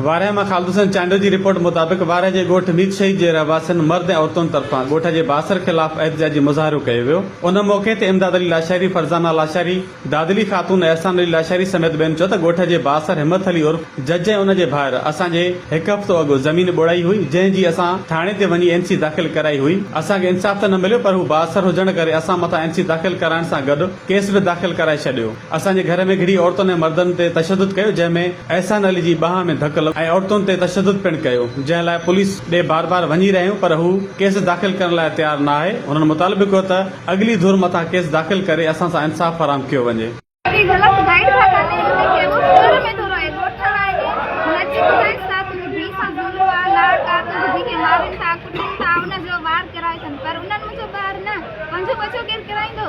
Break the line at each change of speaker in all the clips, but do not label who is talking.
وارهه مان خالد حسين چانڊيو جي رپورٽ مطابق وارهه جي ڳوٺ ميت شهيد جي رهواسين مرد ۽ عورتن طرفان ڳوٺ جي بااثر خلاف احتجاجي مظاهرو ڪيو ويو ان موقعي تي امداد علي لاشاري فرزانه لاشاري دادلي خاتون احسان علي لاشاري سميت ٻين چيو ته ڳوٺ جي بااثر همت علي عرف جج ۽ ان جي ڀائر اسان جي هڪ هفتو اڳ زمين ٻوڙائي هئي جنهن جي اسان ٿاڻي تي وڃي اين سي داخل ڪرائي هئي اسان کي انصاف ته نه مليو پر هو بااثر هجڻ ڪري اسان مٿان اين سي داخل ڪرائڻ سان گڏ ڪيس به داخل ڪرائي ڇڏيو اسان جي گهر ۾ گهڙي عورتن ۽ مردن تي تشدد ڪيو جنهن ۾ احسان علي جي ٻانهن ۾ ڌڪ لڳو ۽ عورتن تي تشدد پڻ ڪيو جنهن لاء پوليس ڏي بار بار وڃي رهيون پر هو ڪيس داخل ڪرڻ لاء تيار نه آهي هنن مطالبو ڪيو ته اڳلي ڌر مٿان ڪيس داخل ڪري اسان سان انصاف فراهم ڪيو وڃي. اهڙي غلط گائيڊ ٿا ڪن ان ۾ ڪهڙو سر ۾ ٿو رهي ڳوٺ ٺاهڻ آهي هن کي ٻڌائي ڇا ٿيو ڌيء سان جهولو آ لاڙ ڪا ته ٻڌي کي مارين ٿا ڪٽين ٿا ان جو وار ڪيرائي ٿن پر انهن منهنجو ٻار
نه پنهنجو ٻچو ڪير ڪيرائيندو.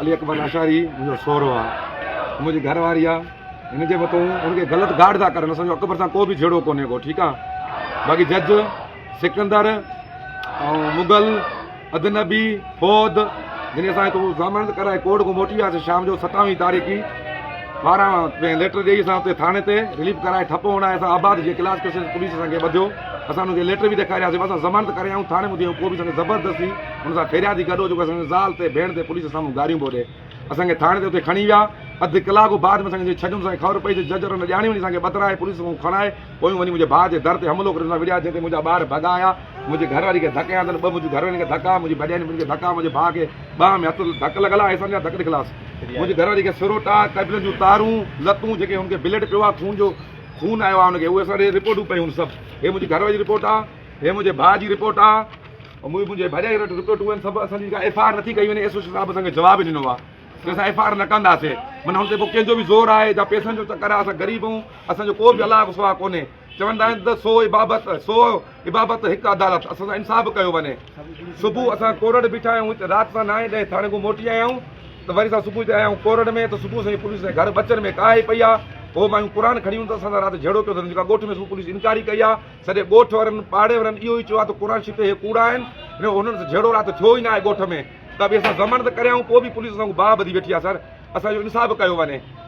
علي اڪبر لاشاري منهنجو سهرو آ منهنجي گهر واري آ هن جي مٿو هن کي غلط گارڊ ٿا ڪرن اسان جو اڪبر سان ڪو به جهيڙو ڪونهي ڪو ٺيڪ آ باقي جج سڪندر ۽ مغل ادنبي فوت جن اسان تو ضمانت ڪرائي ڪورٽ کو موٽي آسي شام جو 27 تاريخ کي ٻارهن پين ليٽر ڏيئي اسان اتي ٿاڻي تي رليف ڪرائي ٺپ هڻائي اسان آباد جي ڪلاس ڪسي پوليس اسان کي ٻڌيو اسان ان کي ليٽر به ڏيکارياسي اسان ضمانت ڪري آئون ٿاڻي ٻڌي ڪو به اسان کي زبردستي ان سان پھريادي گڏھو جيڪو اسان جي زال تي ڀيڻ تي پوليس سامھون گاريون پيو ڏي اسان کي ٿاڻي تي اتي کڻي ويا اڌ ڪلاڪ بعد ۾ اسان کي ڇڏيم اسان کي خبر پئي ته جج رنڊ ڄاڻي وڃي اسان کي ٻڌرائي پوليس سامھون کڻائي پويون وڃي منھنجي ڀاء جي در تي حملو ڪري اسان وڙھيا جنھن تي منھنجا ٻار ڀڳا آيا منھنجي گھرواري کي ڌڪ ھنيا تن ٻه منھنجيون گھروارين کي ڌڪ آيا منھنجي ڀڄائي ني ٻنھي کي ڌڪ آيا منھنجي ڀاء کي ٻانھن ۾ ھٿ ڌڪ لڳل آ اسان جا ڌڪ ڏکلاس منھنجي گھرواري کي سروٽا ڪيبلن جون تارون لتون جيڪي ھن کي بليڊ پيو آ خون جو خون آيو آ ھن کي اھي اسان ڏي رپورٽون پيون سڀ ھي منھنجي گھرواري جي رپورٽ آ ھي منھنجي ڀاء جي رپورٽ آ. اميد هجي ڀڄائي رٽ رپورٽ هئن سڀ اسان جي ڪا ايف آر نٿي ڪئي وڃي ايس او سي صاحب اسان کي جواب ئي ڏنو آهي ته اسان ايف آر نه ڪنداسي من هن تي پوء ڪنهن جو به زور آهي جا پيسن جو چڪر آهي اسان غريب آهيون اسان جو ڪو به الله کان سواء ڪونهي چوندا آهن ته سو عبابت سو عبابت هڪ عدالت اسان سان انصاف ڪيو وڃي صبح اسان ڪورڙ بيٺا آهيون هت رات سان نائين ڏهين ٿاڻي کان موٽي آيا آهيون ته وري اسان صبح تي آيا آهيون ڪورڙ ۾ ته صبح سان پوليس سان گهر بچن ۾ ڪاهي پئي آهي هو مايون قرآن کڻي هن ته اسان سان رات جهيڙو ڪيو اٿن جيڪا ڳوٺ ۾ صبح پوليس انڪاري ڪئي آهي سڄي ڳوٺ وارن پاڙي وارن اهو ئي چيو آهي ته قرآن شريف اهي ڪوڙا آهن ۽ انهن سان جهيڙو رات ٿيو ئي ناهي ڳوٺ ۾ ته به اسان ضمانت ڪريائون پوء به پوليس اسان کان باهه ٻڌي ويٺي آهي سر اسان جو انصاف ڪيو وڃي.